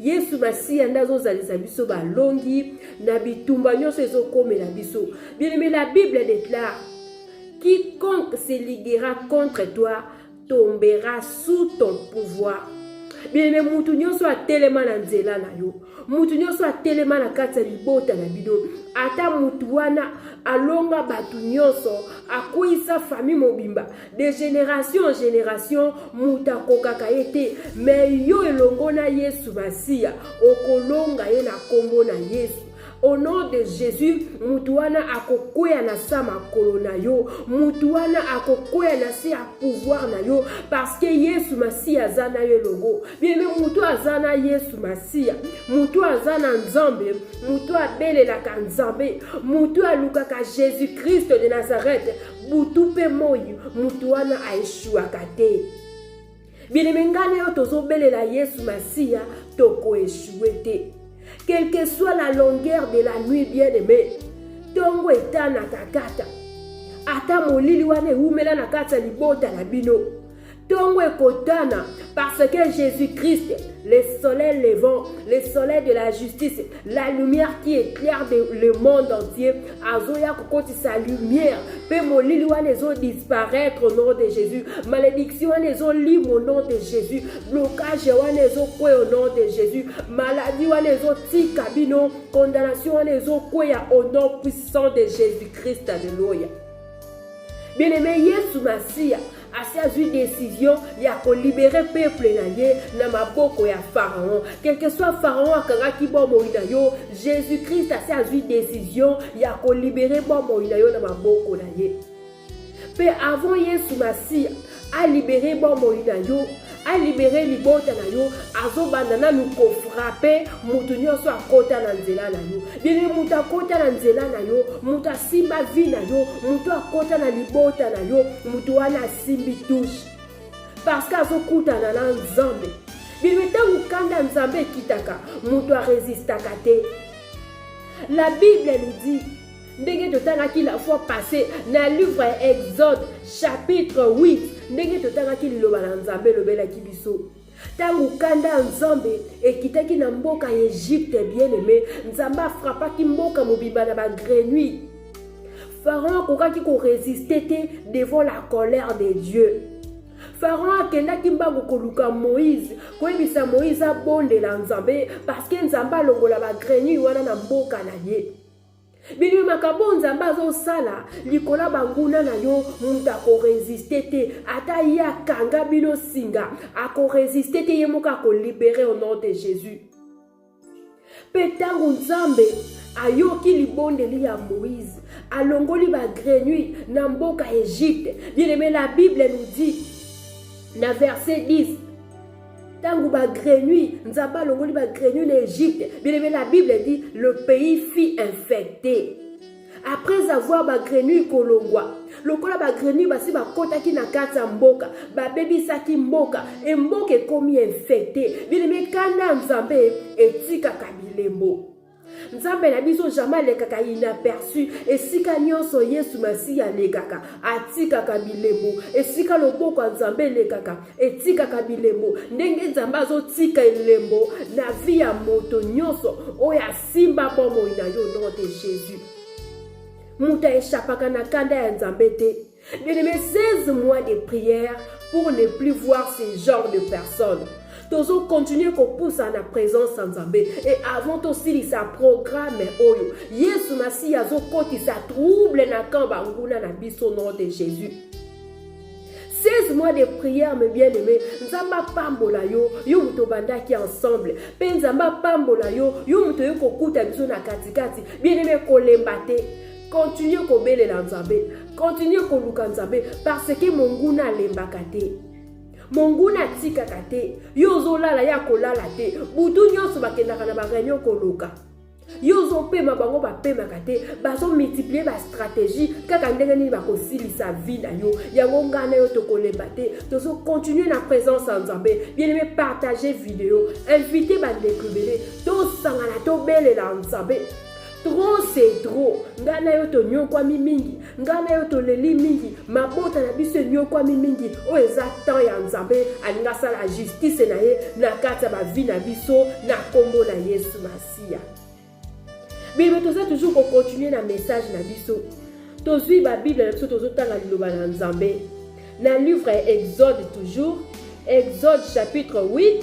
yesu masiya nde azozalisa biso balongi na bitumba nyonso ezokomela biso bien-aime la bible déclare quiconque se liguera contre toi tombera sous ton pouvoir bien-aime motu nyonso atelema na nzela na yo motu nyonso atelema na kati ya libota na bino ata motu wana alonga bato nyonso akweyisa fami mobimba de generation en generation moto akokaka ye te me yo elongo na yesu masiya okolonga ye na nkombo na yesu au nom de jésus moto wana akokwea na se ya makolo na yo moto wana akokwea na se ya pouvoir na yo parce que yesu masiya aza na yo elongo biebe moto aza na yesu masiya moto aza na nzambe moto abelelaka nzambe moto alukaka jésus kristo de nazareth butu mpe moi moto wana aeshuaka te bieneme ngai na yo tozobelela yesu masiya tokoeshue te quelque soit la longueur de la nuit bien aime ntongo etanaka kaka ata molili wana ewumela na kati ya libota na bino ntongo ekotana parce que jésus-christ le soleil levant le soleil de la justice la lumière qui éclaire de, le monde entier azoya kokotisa lumière mpe molili wana ezodisparaître au nom de jésus malédiction wana ezolima au nom de jésus blocage wana ezokweya au nom de jésus maladie wana ezotika bino condamnation wana ezokweya au nom puissant de jésus-christ aleluya Bien-aimé, Yesu Masiya asi azwi decision ya kolibere peuple na ye na maboko ya pharaon quelque soit pharaon akangaki bomoi na yo jésus christ asi azwi decision ya kolibere bomoi na yo na maboko na ye mpe avant yesu masiya a libere bomoi na yo a libere libota na yo azobanda nanu kofrape moto nyonso akota na nzela na yo dene moto akota na nzela na yo moto asimba vi na yo moto akota na libota na yo moto wana asimbi tushe parce que azokutana na nzambe bino ntango kanda nzambe ekitaka moto aresistaka te la bible nous dit ndenge totangaki la fois passé na livre ya exode chapitre 8 ndenge totangaki liloba na nzambe elobelaki biso ntango kanda ya nzambe ekitaki na mboka ya egypte bien aime nzambe afrapaki mboka mobimba na bagrenui pharaon akokaki koresiste te devant la colère de dieu pharaon akendaki mbango koluka moïse koyebisa moïse abondela nzambe parceke nzambe alongola bagrenui wana na mboka na ye bino makambo oyo nzambe azosala likolo ya banguna na yo moto akoresiste te ata ye akanga bino nsinga akoresiste te ye moko akolibere au nom de jésus mpe ntango nzambe ayoki libondeli ya moïse alongoli bagrenui na mboka egypte bien aime la bible nous dit na verset 10 ntango bagrenui nzambe alongoli bagrenui na egypte bilebe la bible dit le pays fit infecté après avoir bagrenui kolongwa lokola bagrenui basi bakotaki na kati ya mboka babebisaki mboka e mboka ekomi infecte bileme kanda ya nzambe etikaka bilembo nzambe na biso jamai alekaka inaperçu esika nyonso yesu masiya alekaka atikaka bilembo esika loboko ya nzambe elekaka etikaka bilembo ndenge nzambe azotika elembo na vi ya moto nyonso oyo asimba bomoi na yo nom de jésus moto aeshapaka na kanda ya nzambe te Bien aimé, 16 mois de prière pour ne plus voir ce genre de personnes. tozo continue kopusa na présence ya nzambe e avant tosilisa programme oyo yesu masihi azokotisa trouble na camp banguna na biso nom de jésus 16 mois de prière me bien aimé nzambe apambola yo yo moto obandaki ensemble mpe nzambe apambola yo yo moto oye kokuta biso na katikati bien aimé kolemba te Continuez kobelela Nzambe, continuez koluka Nzambe parce que monguna alembaka te. monguna atikaka te yo ozolala ye akolala te butu nyonso bakendaka na bareunion koloka yo ozopema bango bapemaka te bazomultiplie bastratégie kaka ndenge nini bakosilisa vi na yo yango ngai na yo tokolemba te tozokontinue na présence ya nzambe bieneme partage video invite bandeko ebele tosangana tobelela nzambe trop c'est trop ngai na yo tonyokwami mingi ngai na yo toleli mingi mabota na biso enyokwami mingi oyo eza temps ya nzambe alingi asala justice na ye na kati ya bavi na biso na nkombo na yesu masiya bebe toza toujours kokontinue na message na biso tozwi babible na biso tozotanga liloba na nzambe na livre ya exode toujours exode chapitre 8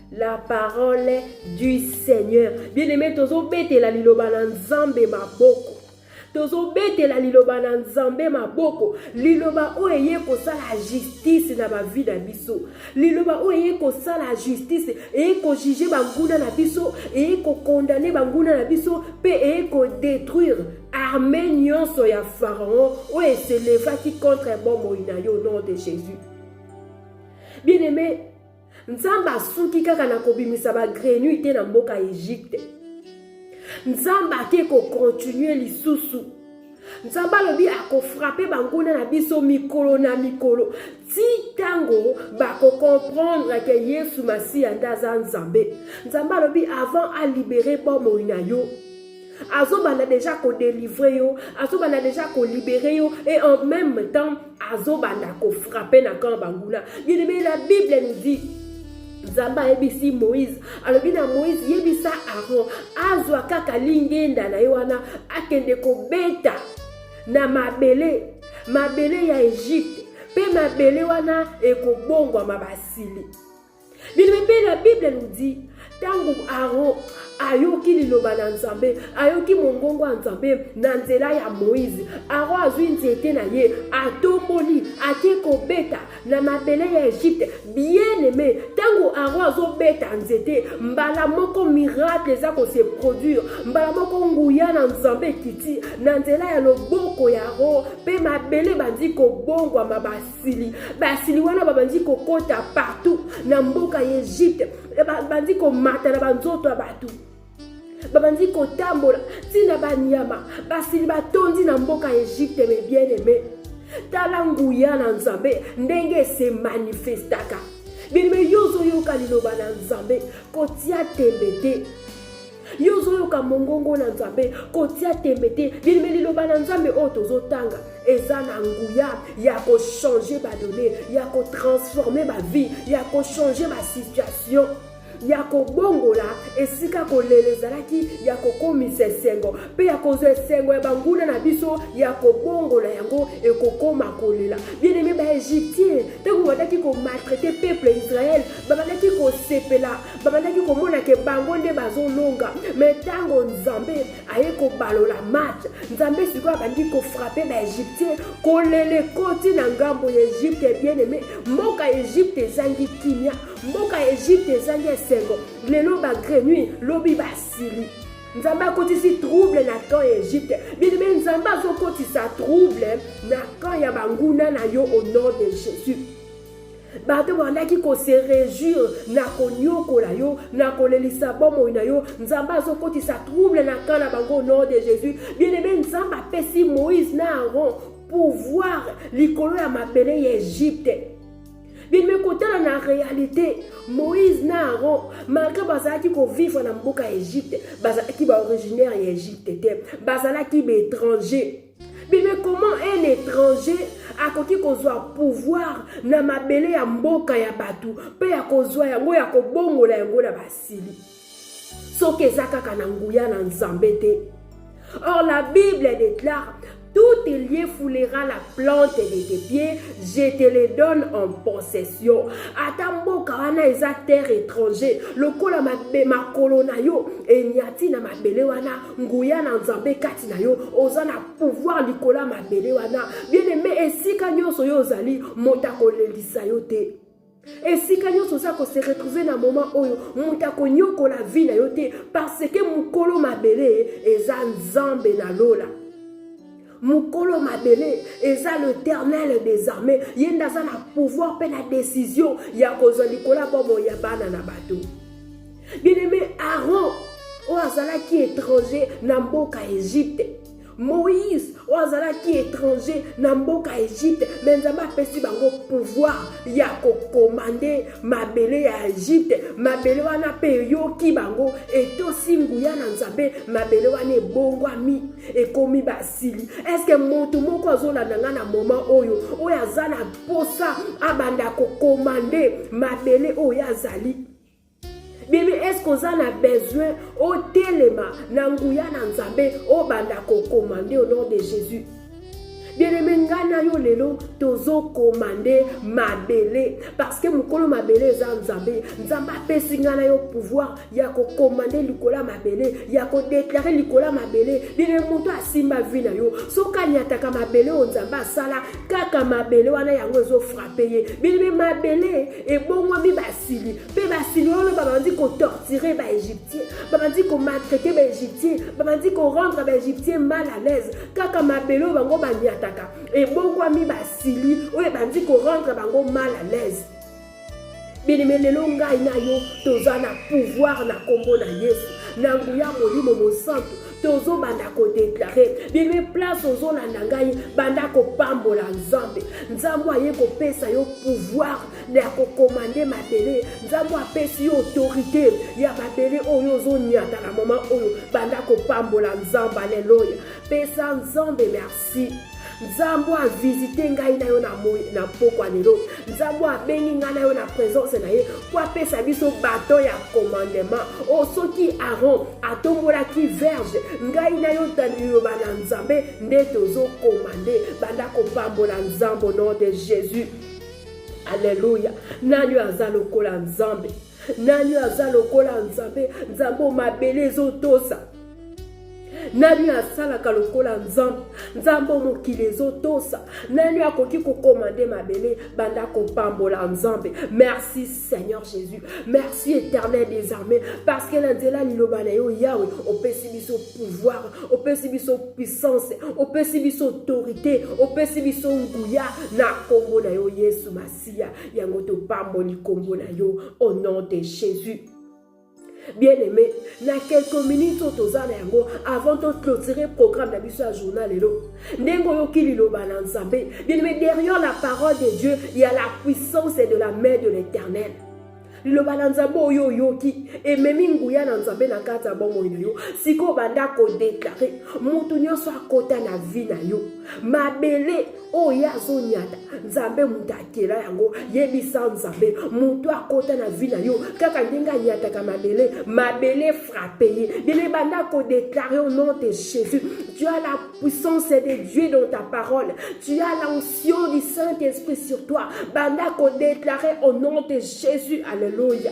La parole du Seigneur. Bien-aimé, tozobetela liloba na Nzambe maboko. tozobetela liloba na nzambe maboko liloba oyo eye kosala justice na bavi na biso liloba oyo eye kosala justice eye kojuge banguna na biso eye kokondane banguna na biso mpe eye kodetruire arme nyonso ya pharaon oyo eselevaki contre bomoi na yo nom de jésus bien aimé nzambe asuki kaka na kobimisa bagrenui te na mboka egypte nzambe ake kokontinue lisusu nzambe alobi akofrape banguna na biso mikolo na mikolo ti ntango bakokomprendre ke yesu masiya nde aza nzambe nzambe alobi avant alibere bomoi na yo azobanda deja kodelivre yo azobanda deja kolibere yo et en même temps azobanda kofrape na camp banguna bien la bible nous dit nzambe ayebisi moïse alobi na moïse yebisa aron azwa kaka lingenda na ye wana akende kobeta na mabele mabele ya egypte mpe mabele wana ekobongwama basili bilobembe la bible nous dit ntango aaron ayoki liloba na nzambe ayoki mongongo ya nzambe na nzela ya moïse aaron azwi nzete na ye atomboli ake kobeta na mabele ya egypte bien aime ntango aaron azobeta nzete mbala moko miracle eza kose produire mbala moko nguya na nzambe ekiti na nzela ya loboko ya aaron mpe mabele bandi kobongwama basi sili basili wana babandi kokota partout na mboka ya egypte babandi komata na banzoto ya bato babandi kotambola ntina banyama basili batondi na mboka ya egypte me bien aime tala nguya na nzambe ndenge ese manifestaka bilime yo ozoyoka liloba na nzambe kotia tembe te yo ozoyoka mongongo na nzambe kotia tembe te bilime liloba na nzambe oyo tozotanga eza na nguya ya kochange badone ya kotransforme bavie ya kochange basituation ya kobongola esika kolela ezalaki ya kokomisa esengo mpe ya kozwa esengo ya banguna na biso ya kobongola yango ekokoma kolela bieneme baegyptien ntango babandaki komaltraite peuple ya israele babandaki kosepela babandaki komona ke bango nde bazolonga me ntango nzambe aye kobalola match nzambe sikoyo abandi kofrape baegyptien kolele koti na ngambo ya egypte bien aime mboka egypte ezangi kimia mboka egypte ezangi esengo lelo bagrenui lobi basili nzambe akotisi trouble na camp ya egypte bilime nzambe azokotisa trouble na camp ya banguna na yo au nom de jésus bato bandaki kose rejure na konyokola yo na kolelisa bomoi na yo nzambe azokotisa trouble na kan na bango au nom de jésus bien aime nzambe apesi moïse na aaron pouvoir likolo ya mabele ya egypte bino ekotala na réalité moïse na aaron malgré bazalaki kovivre na mboka ya egypte bazalaki baoriginaire ya egypte te bazalaki baétranger Bebe, comment un étranger akoki kozwa pouvoir na mabele ya mboka ya bato mpe ya kozwa yango ya kobongola yango na basili soki eza kaka na nguya na nzambe te or la bible déclare tout lieu foulera la plante de tes pieds je te le donne en possession ata mboka wana eza terre étranger lokola makolo na yo enyati na mabele wana nguya na nzambe kati na yo oza na pouvoir likolo ya mabele wana bien aime esika nyonso yo ozali moto akolelisa yo te esika nyonso oza kose retrouve na moma oyo moto akonyokola vi na yo te parce que mokolo mabele eza nzambe na lola mokolo mabele eza l'éternel des armées ye nde aza na pouvoir mpe na décision ya kozwa likolo ya bomoi ya bana na bato Bien-aimé Aaron, oyo azalaki étranger na mboka Egypte. Moïse, oyo azalaki étranger na mboka Egypte, me Nzambe apesi bango pouvoir ya kokomande mabele ya Egypte. Mabele wana mpe eyoki bango, etosi nguya na Nzambe, mabele wana ebongwami, ekomi basili. Eske moto moko azolanda ngai na moment oyo, oyo aza na mposa abanda kokomande mabele oyo azali bibi eske oza na besoin otelema na nguya na nzambe obanda kokomande au nom de jésus bieneme ngai na yo lelo tozokomande mabele parceke mokolo mabele eza nzambe nzambe apesi ngai na yo pouvoir ya kokomande likolo ya mabele ya kodeklare likolo ya mabele bieneme moto asimba vi na yo soki anyataka mabele oyo nzambe asala kaka mabele wana yango ezofrape ye bieneme mabele ebongwami basili mpe basili oyo babandi kotortire baegyptien babandi komaltraite baegyptien babandi korendre baegyptien mal à l'aise kaka mabele oyo bango banyataka ebongwami basili oyo ebandi korendre bango mal à l'aise bilime lelo ngai na yo toza na pouvoir na nkombo na yesu na nguya molimo mosantu tozobanda kodeklare bebe place ozolanda ngai banda kopambola nzambe nzambe aye kopesa yo pouvoir ya kokomande mabele nzambe apesi yo autorité ya mabele oyo ozonyata na moma oyo banda kopambola nzambe aleloya pesa nzambe merci Si Nzambe a visite ngai na yo na moi na mpokwa lelo, Nzambe abengi ngai na yo na presence na ye mpo apesa biso baton ya commandement o oh, soki Aaron atombolaki verge, ngai na yo ta liloba na Nzambe nde tozokomande banda kopambola Nzambe au nom de Jésus. Alléluia. Nani aza lokola Nzambe? Nani aza lokola Nzambe? Nzambe mabele ezotosa nani asalaka lokola nzambe nzambe oyo mokili ezotosa nani akoki kokomande mabele banda kopambola nzambe merci seigneur jésus merci éternel des armées parce que na nzela liloba na yo yawe opesi biso pouvoir opesi biso puissance opesi biso autorité opesi biso nguya na nkombo na yo yesu masiya yango topamboli nkombo na yo au nom de jésus bien aimé na quelques minutes oyo toza na yango avant to clôturer programme na biso ya journal lelo ndenge oyoki liloba na nzambe bien aimé derrière la parole de dieu il y a la puissance et de la main de l'éternel liloba na nzambe oyo oyoki ememi nguya na nzambe na kati ya bomoi na yo sikoyo banda kodeklare moto nyonso akota na vi na yo mabele oyo ye azonyata nzambe moto akela yango yebisa nzambe moto akota na vi na yo kaka ndenge anyataka mabele mabele frappe ye bino ebanda kodeklare au nom de jésus tu as la puissance de dieu dans ta parole tu as l'onction du saint esprit sur toi banda kodeklare au nom de jésus alleluia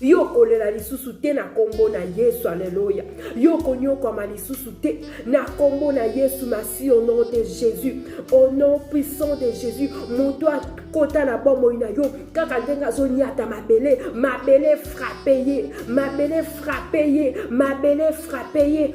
yo okolela lisusu te na nkombo na yesu aleluya yo okonyokwama lisusu te na nkombo na yesu masi au nom de jésus au nom puissant de jésus moto akota na bomoi na yo kaka ndenge azonyata mabele mabele frape ye mabele frape ye mabele frape ye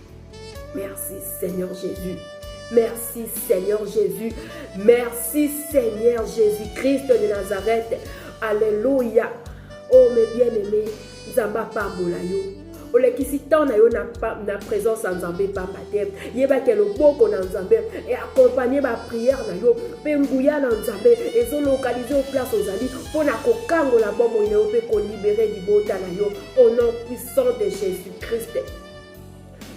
Merci Seigneur Jésus. Merci Seigneur Jésus. Merci Seigneur Jésus-Christ de Nazareth. Alléluia. Oh mes bien-aimés, Zamba pambola yo. olekisi temps na yo na, na présence ya nzambe pamba te yebake loboko na nzambe e accompagne baprière na yo mpe nguya na nzambe ezolokalize o place ozali mpo na kokangola bomoi na yo mpe kolibere libota na yo au nom puissant de jésus christ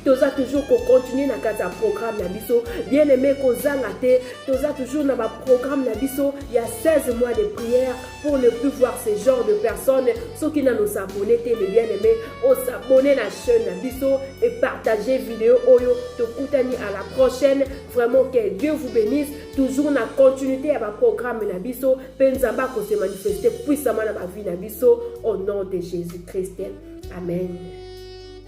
toza toujours kocontinue na kati ya programme na biso bien aimé kozanga te toza toujours na baprogramme na biso ya 16 mois de prière pour ne plus voir ce genre de personne soki nano sabone te me bien aimé osabone na chaîne na biso et partage video oyo tokutani à la prochaine vraiment que dieu vous bénisse toujours na continuité ya baprogramme na biso mpe nzambe akose manifeste puissamment na bavi na biso au nom de jésus christ amen